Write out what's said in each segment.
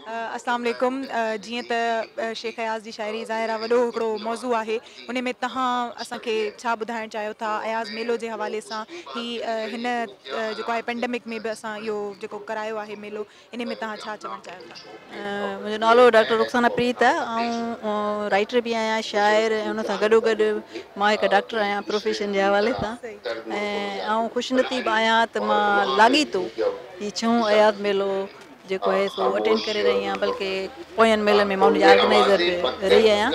السلام عليڪم جيئن ته شيخ اياز جي شاعري ظاهر آ وڏو هڪڙو موضوع آهي انهي ۾ تهان اسان کي ڇا ٻڌائڻ چاهيو ٿا اياز ميلو جي حوالي سان هي هن جيڪو آهي پينڊمڪ ۾ به اسان اهو جيڪو ڪرايو آهي ميلو انهي ۾ تهان ڇا چوڻ چاهيو ٿا. منهنجو نالو ڊاڪٽر رخسانه پريت آ آئون رائٽر به آهيان شاعر ۽ ان سان گڏو گڏ مان هڪ ڊاڪٽر آهيان پروفيشن جي حوالي سان ۽ آئون خوش نصيب آهيان ته مان لاڳيتو هي ڇهون اياز ميلو جيڪو آهي سو اٽينڊ ڪري رهي آهيان بلڪه پوين ميلن ۾ مان ان جي آرگنائيزر به رهي آهيان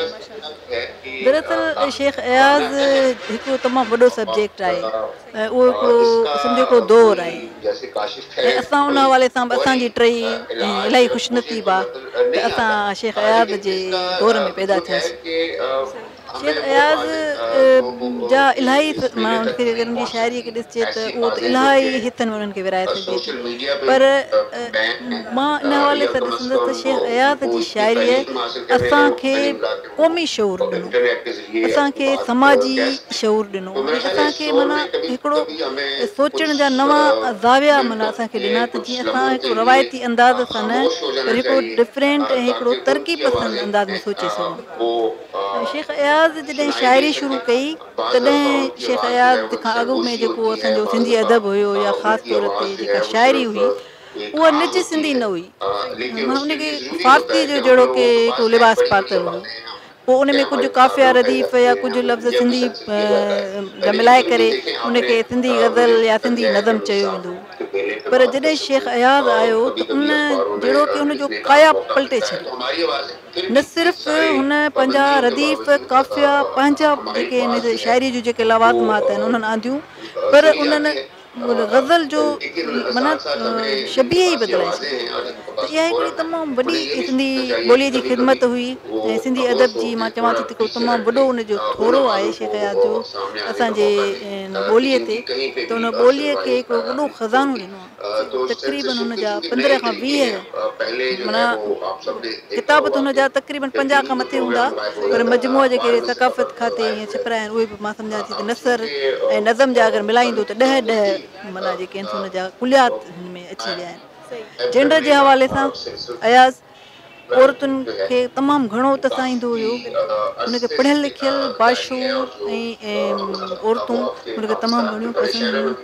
دراصل شيخ اياز هڪ تمام وڏو سبجيڪٽ آهي ۽ اهو هڪڙو سنڌ جو هڪڙو دور آهي ۽ اسان ان حوالي سان به اسان جي ٽهي الاهي خوش نصيب آهي ته اسان شيخ اياز جي دور ۾ پيدا ٿياسين شيخ اياز جا الاهي ماڻهن کي اگر انهن جي شاعريء کي ڏسجي ته اهو ته الاهي هٿن ۾ انهن کي ورهائي سگهجي ٿي پر مان ان حوالي سان ڏسندس ته شيخ اياز جي شاعريء اسان کي قومي شعور ڏنو اسان کي سماجي شعور ڏنو ۽ اسان کي معنيٰ هڪڙو سوچڻ جا نوان زاويا معنيٰ اسان کي ڏنا ته جيئن اسان هڪڙو روايتي انداز سان نه پر هڪڙو ڊفرينٽ ۽ هڪڙو ترقي پسند انداز ۾ سوچي سگهون شيخ اياز جڏهن شاعري شروع ڪئي تڏهن شيخ اياز کان اڳ ۾ جيڪو اسان جو سنڌي ادب هيو يا خاص طور تي جيڪا شاعري هئي اها نج سنڌي نه هئي. هن کي فارسيء جو جهڙوڪ هڪڙو لباس پاتل هو. پوء ان ۾ ڪجهه قافيه رديف يا ڪجهه لفظ سنڌي جا ملائي ڪري ان کي سنڌي غزل يا سنڌي نظم چيو ويندو هو. پر جڏهن شيخ اياز آيو ته ان جهڙوڪ ان جو ڪايا پلٽي ڇڏي. نه صرف هن پنهنجا رديف، قافيا، پنهنجا جيڪي هن جي شاعريء جون جيڪي لوازمات آهن انهن آنديون پر انهن غزل جو معنيٰ شبيهه ئي بدلائي ڇڏي ته اها هڪڙي تمام وڏي سنڌي ٻوليء جي خدمت هئي ۽ سنڌي ادب جي مان چوان ٿي ته هڪڙو تمام وڏو ان جو ٿورو آهي شيخ اياز جو اسان جي ٻوليء تي ته ان ٻوليء کي هڪڙو وڏو خزانو ڏنو آهي. تقريبن هن جا پندرهن کان ويهه معنيٰ ڪتاب ته هن جا تقريبن پنجاهه کان مٿي هوندا پر مجموعا جيڪي اهي ثقافت کاتي ائين ڇپرايا آهن اهي به مان سمجهان ٿي ته نثر ۽ نظم جا اگر ملائيندو ته ڏهه ڏهه معنيٰ جيڪي آهن سو ان جا ڪليات هن ۾ اچي ويا آهن جينڊر جي حوالي سان اياز عورتن کي تمام گهڻو تسائيندو هيو هن کي پڙهيل لکيل باشعور ۽ عورتون هن کي تمام گهڻيون پسند هيون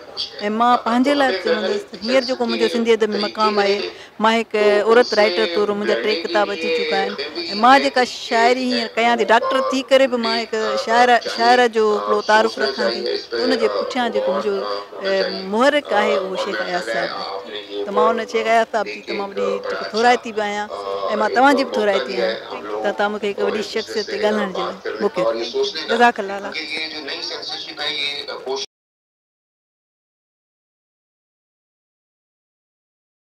۽ مان پنهنجي لاء چوندس ته هينئر جيڪو منهنجو سنڌي ادب ۾ مقام آهي مان هڪ عورت رائيٽر طور منهنجا ٽي ڪتاب اچي چڪا آهن ۽ مان جيڪا شاعري هينئر ڪيان ٿي ڊاڪٽر ٿي ڪري به مان هڪ شاعره شاعره جو هڪڙو تعارف رکان ٿي ان جي پٺيان جيڪو منهنجو محرڪ آهي اهو شيخ اياز صاحب ته مان ان شيخ اياز صاحب جي تمام وڏي هڪ ٿورائتي به آهيان ۽ مان توهان جي به ٿورائتي آهيان ته توهان مونکي هڪ وڏي شخصيت تي ڳالهائڻ جو موقعو ڏنو جزاڪ الله